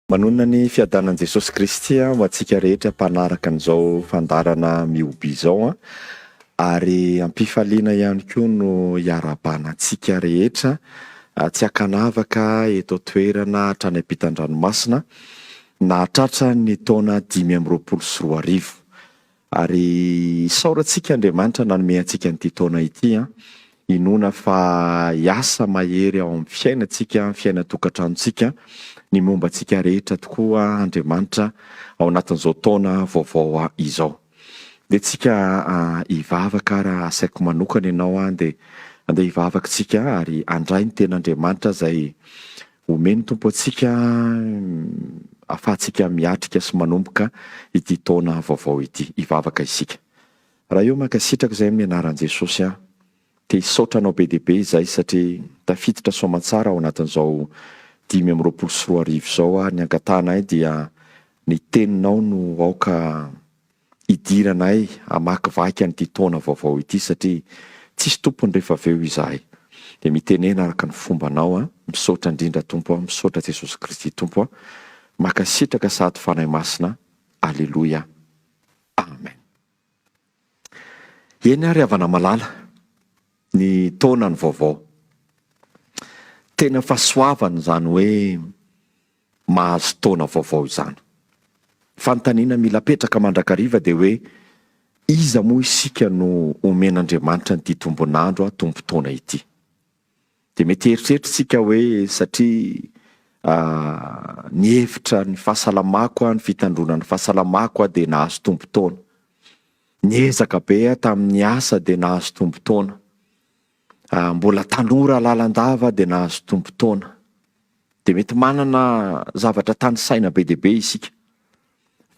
Manonona ny fiadanan'i Jesosy Kristy ho antsika rehetra mpanaraka an'izao fandaharana mihoby izao an! Ary am-pifaliana ihany koa no iarahabana antsika rehetra tsy an-kanavaka eto an-toerana hatrany am-pitan-dranomasina nahatratra ny taona dimy amby roapolo sy roa arivo. Ary isaorantsika Andriamanitra nanome antsika an'ity taona ity an! Inoana fa hiasa mahery ao amin'ny fiainantsika, ny fiainan-tokantranontsika, ny momba antsika rehetra tokoa Andriamanitra ao anatin'izao taona vaovao izao. Dia tsika hivavaka ara asaiko manokana ianao an, dia andeha hivavaka tsika ary handray ny ten'Andriamanitra izay Omey ny Tompo antsika afahantsika miatrika sy manomboka ity taona vaovao ity. Hivavaka isika. Ra io mankasitraka izay amin'ny anaran'i Jesosy aho. Te hisaotra anao be dia be izay satria tafiditra soamantsara ao anatin'izao dimy amby roapolo sy roa arivo izao aho. Ny angatahanay dia ny teninao no aoka hidiranay hamakivaky an'ity taona vaovao ity satria tsisy tompony rehefa avy eo izahay dia mitenena araka ny fombanao a misaotra indrindra Tompo a misaotra Jesosy Kristy Tompo a makasitraka sahady Fanahy Masina Aleloia Amen Eny ary havana malala ny taona ny vaovao tena fahasoavana izany hoe mahazo taona vaovao izany. Fanontaniana mila apetraka mandrakariva dia hoe iza moa isika no omen'Andriamanitra an'ity tombon'andro a tombo taona ity? Dia mety hieritreritra isika hoe satria ah, nihevitra ny fahasalamako aho, ny fitandroana ny fahasalamako aho dia nahazo tombo taona. Niezaka be aho tamin'ny asa dia nahazo tombo taona. Raha mbola tanora lalandava dia nahazo tombon-taona, dia mety manana zavatra tanisaina be dia be isika.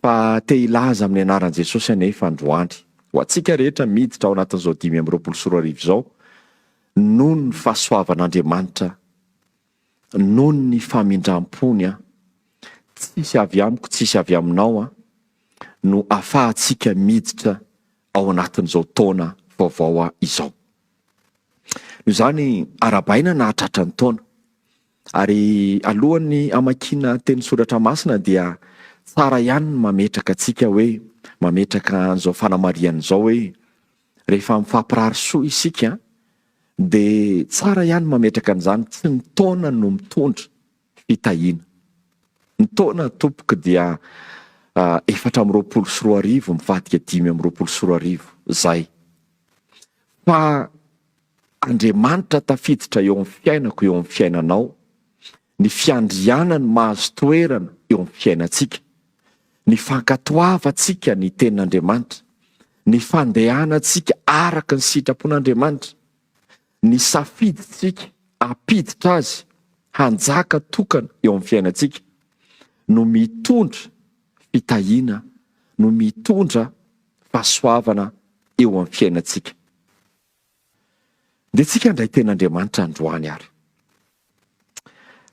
Fa te hilaza amin'ny anaran'i Jesosy anefa androany, ho antsika rehetra miditra ao anatin'izao dimy amby roapolo sy roa arivo izao, noho ny fahasoavan'Andriamanitra, noho ny famindram-pony an, tsisy avy amiko, tsisy avy aminao an, no afahantsika miditra ao anatin'izao taona vaovao izao. Noho izany, arahabaina na hatratra ny taona. Ary alohan'ny hamakiana teny soratra masina dia tsara ihany ny mametraka antsika hoe, mametraka an'izao fanamarihana izao hoe, rehefa mifampirary soa isika dia tsara ihany mametraka an'izany tsy ny taona no mitondra, fitahiana. Ny taona tompoko dia efatra amby roapolo sy roa arivo mivadika dimy amby roapolo sy roa arivo zay. Fa Andriamanitra tafiditra eo amin'ny fiainako eo amin'ny fiainanao, ny fiandrianany mahazo toerana eo amin'ny fiainantsika, ny fankatoavantsika ny tenin'Andriamanitra, ny fandehanantsika araka ny sitrapon'Andriamanitra. Nisafidintsika hampiditra Azy hanjaka tokana eo amin'ny fiainantsika no mitondra fitahiana, no mitondra fahasoavana eo amin'ny fiainantsika. Ndehantsika handray tena Andriamanitra androany ary.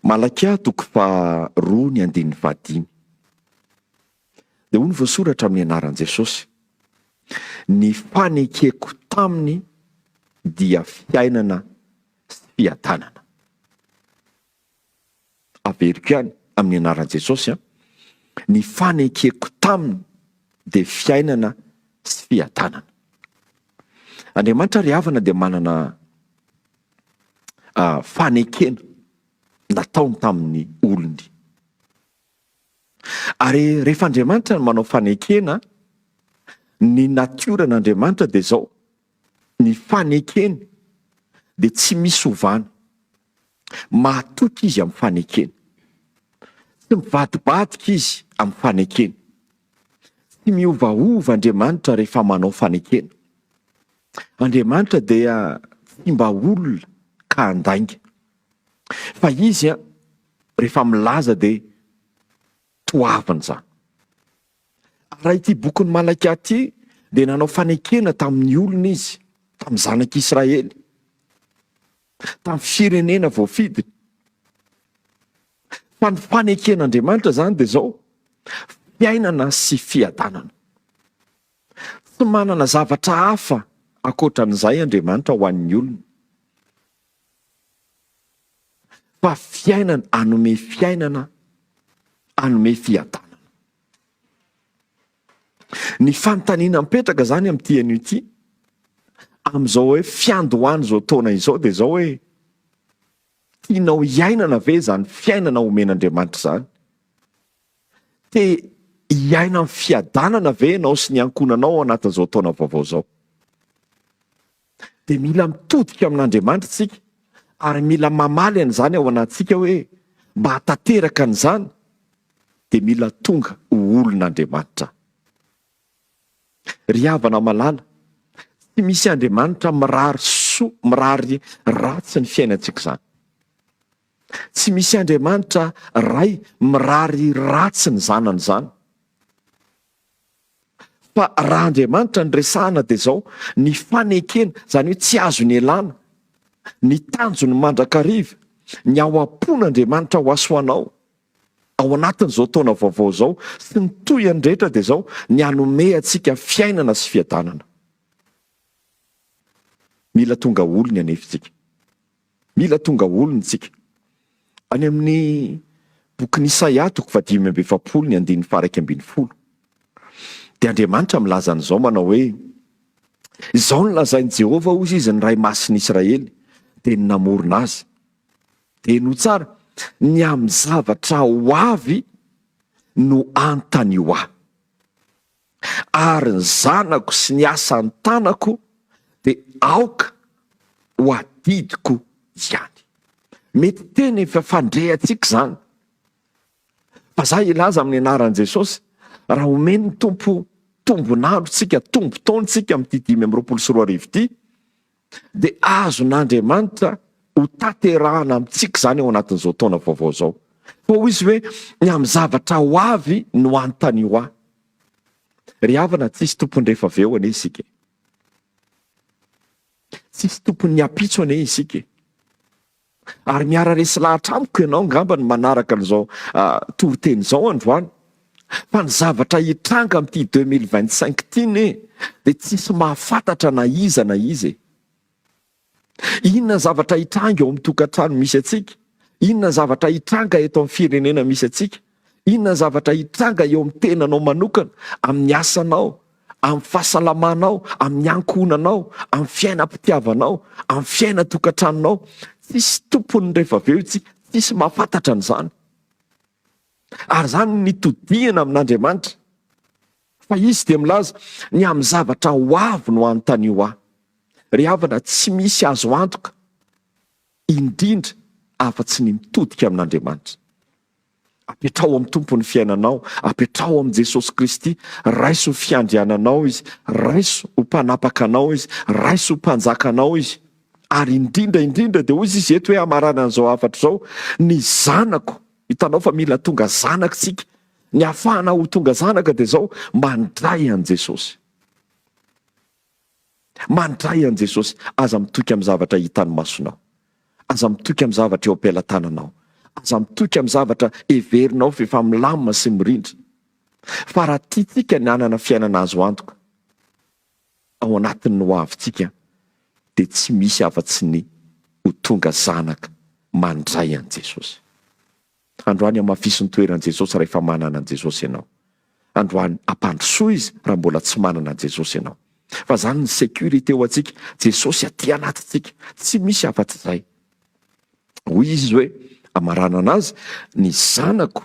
Malakia toko faharoa ny andininy fahadimy. Dia hoy ny voasoratra amin'ny anaran'i Jesosy, Ny fanekeko taminy dia fiainana sy fiadanana. Averiko ihany amin'ny anaran'i Jesosy an. Ny fanekeko taminy dia fiainana sy fiadanana. Andriamanitra ry havana dia manana uh, fanekena nataony tamin'ny olony. Ary rehefa Andriamanitra no manao fanekena, ny natioran'Andriamanitra dia izao, ny fanekeny dia tsy misy ovana. Mahatoky izy amin'ny fanekeny. Tsy mivadibadika izy amin'ny fanekeny. Tsy miovaova Andriamanitra rehefa manao fanekena. Andriamanitra dia tsy mba olona ka handainga. Fa izy an, rehefa milaza dia toavina izany. Raha ity bokin'i Malakia ity dia nanao fanekena tamin'ny olona izy, tamin'ny zanak'Israely, tamin'ny firenena voafidiny. Fa ny faneken'Andriamanitra izany dia izao, fiainana sy fiadanana. Tsy manana zavatra hafa ankoatra an'izay Andriamanitra ho an'ny olony. fa fiainana hanome fiainana, hanome fiadanana. Ny fanontaniana mipetraka izany amin'ity anio ity, amin'izao hoe fiandohan'izao taona izao dia izao hoe, tianao hiainana ve izany fiainana omen'Andriamanitra izany? Te hiaina amin'ny fiadanana ve ianao sy ny ankohonanao ao anatin'izao taona vaovao izao? dia mila mitodika amin'Andriamanitra isika ary mila mamaly an'izany ao anatintsika hoe mba hahatanteraka an'izany dia mila tonga ho olon'Andriamanitra aho. Ry havana malala, tsy misy Andriamanitra mirary soa, mirary ratsy ny fiainantsika izany. Tsy misy Andriamanitra ray mirary ratsy ny zanany izany. Fa raha Andriamanitra no resahana dia izao, ny fanekena, izany hoe tsy azo nialana, ny tanjony mandrakariva, ny ao am-pon'Andriamanitra ho aso anao ao anatin'izao taona vaovao izao sy ny tohiny rehetra dia izao, ny hanome antsika fiainana sy fiadanana. Mila tonga olony anefa isika. Mila tonga olona isika. Any amin'ny bokin'i Isaia toko fahadimy amby efapolo ny andininy faha-iraika ambin'ny folo dia Andriamanitra milaza an'izao manao hoe, Izao no lazain'i Jehovah, hoy Izy, ny Ray Masin'i Israely, dia ny namorona azy, Henoy tsara, ny amin'ny zavatra ho avy no anontanio ahy. ary ny zanako sy ny asa ny tanako dia aoka ho adidiko ihany. Mety tena efa fandreantsika izany, fa za hilaza amin'ny anaran'i Jesosy, raha omen'ny Tompo tombon'andro tsika, tombo-taona tsika amin'ity dimy amby roapolo sy roa arivo ity, dia azon'Andriamanitra ho tanterahana amintsika izany ao anatin'izao taona vaovao izao. Fa hoy izy hoe ny amin'ny zavatra ho avy no anontanio ahy. Ry havana, tsisy tompony rehefa avy eo anie isika. Tsisy tompon'ny ampitso anie isika. Ary miara-resy lahatra amiko ianao angamba ny manaraka an'izao toriteny izao androany. Fa ny zavatra hitranga amin'ity deux mille vingt cinq ity ne dia tsisy mahafantatra na iza na iza e. Inona ny zavatra hitranga eo amin'ny tokantrano misy antsika? Inona ny zavatra hitranga eto amin'ny firenena misy antsika? Inona ny zavatra hitranga eo amin'ny tenanao manokana, amin'ny asanao, amin'ny fahasalamanao, amin'ny ankohonanao, amin'ny fiainam-pitiavanao, amin'ny fiainan-tokantranonao? Tsisy tompony rehefa avy eo io, tsy tsisy mahafantatra an'izany. Ary izany nitodihana amin'Andriamanitra. Fa izy dia milaza, ny amin'ny zavatra ho avy no anontanio ahy. Ry havana, tsy misy azo antoka. indrindra afa-tsy ny mitodika amin'Andriamanitra. Apetraho amin'ny Tompo ny fiainanao, apetraho amin'i Jesosy Kristy, raiso ho fiandriananao Izy, raiso ho mpanapaka anao Izy, raiso ho mpanjaka anao Izy. Ary indrindra indrindra dia hoy izy eto hoe hamarana an'izao hafatra izao, ny zanako, hitanao fa mila tonga zanaka isika, ny hafahana ho tonga zanaka dia izao, mandray an'i Jesosy. Mandray an'i Jesosy, aza mitoky amin'ny zavatra hitan'ny masonao, aza mitoky amin'ny zavatra eo am-pelatananao, aza mitoky amin'ny zavatra heverinao fa efa milamina sy mirindra. Fa raha tiantsika ny hanana fiainana azo antoka ao anatin'ny hoavintsika dia tsy misy afa-tsy ny ho tonga zanaka mandray an'i Jesosy. Androany hamafiso ny toeran'i Jesosy rahefa manana an'i Jesosy ianao. Androany hampandrosoa Izy raha mbola tsy manana an'i Jesosy ianao. Fa zany ny sécurité ho antsika, Jesosy aty anatintsika, tsy misy afa tsy zay. Hoy Izy hoe, amaranana azy, ny zanako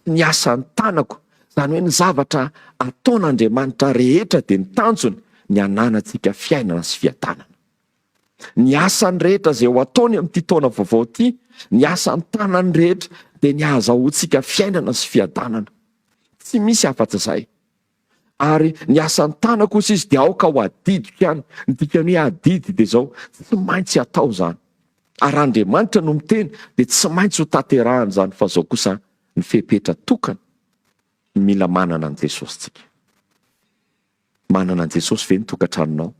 sy ny asan'ny tanako, zany hoe ny zavatra ataon'Andriamanitra rehetra dia ny tanjony ny hananantsika fiainana sy fiadanana. Ny asany rehetra izay ho ataony amin'ity taona vaovao ity, ny asan'ny tanany rehetra dia ny hahazahoantsika fiainana sy fiadanana. Tsy misy afa-tsy izay. Ary ny asan'ny tana kosa izy dia aoka ho adidiko ihany. Ny dikany hoe adidy dia izao, tsy maintsy atao izany. Ary raha Andriamanitra no miteny dia tsy maintsy ho tanterahany izany fa izao kosa ny fepetra tokana mila manana an'i Jesosy tsika. Manana an'i Jesosy ve ny tokantranonao?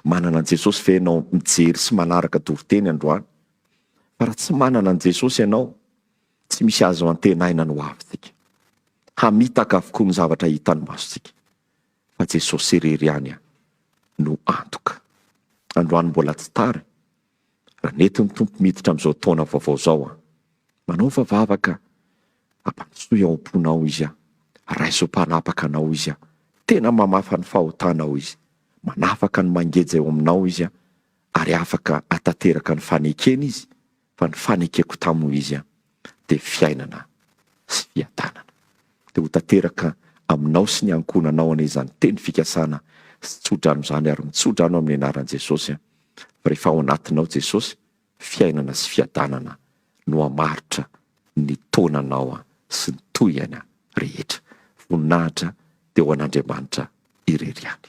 Manana an'i Jesosy ve ianao mijery sy manaraka toriteny androany? Fa raha tsy manana an'i Jesosy ianao, tsy misy azo antenaina ny ho avintsika. Hamitaka avokoa ny zavatra hitan'ny masontsika, fa Jesosy irery ihany no antoka. Androany mbola tsy tara. Raha nety ny Tompo miditra amin'izao taona vaovao izao an! Manaova vavaka hampandrosoy ao am-ponao Izy an! Raiso mpanapaka anao Izy an! Tena mamafa ny fahotanao Izy, manafaka ny mangeja eo aminao Izy an! Ary afaka hatateraka ny fanekena Izy, fa ny fanekeko taminy Izy an! dia fiainana sy fiadanana. Dia ho tanteraka aminao sy ny ankohonanao anie izany teny fikasana sy tsodrano izany ary mitsodrano amin'ny anaran'i Jesosy aho fa rehefa ao anatinao Jesosy fiainana sy fiadanana no hamaritra ny taonanao sy ny tohihana rehetra. Voninahitra dia ho an'Andriamanitra irery ihany.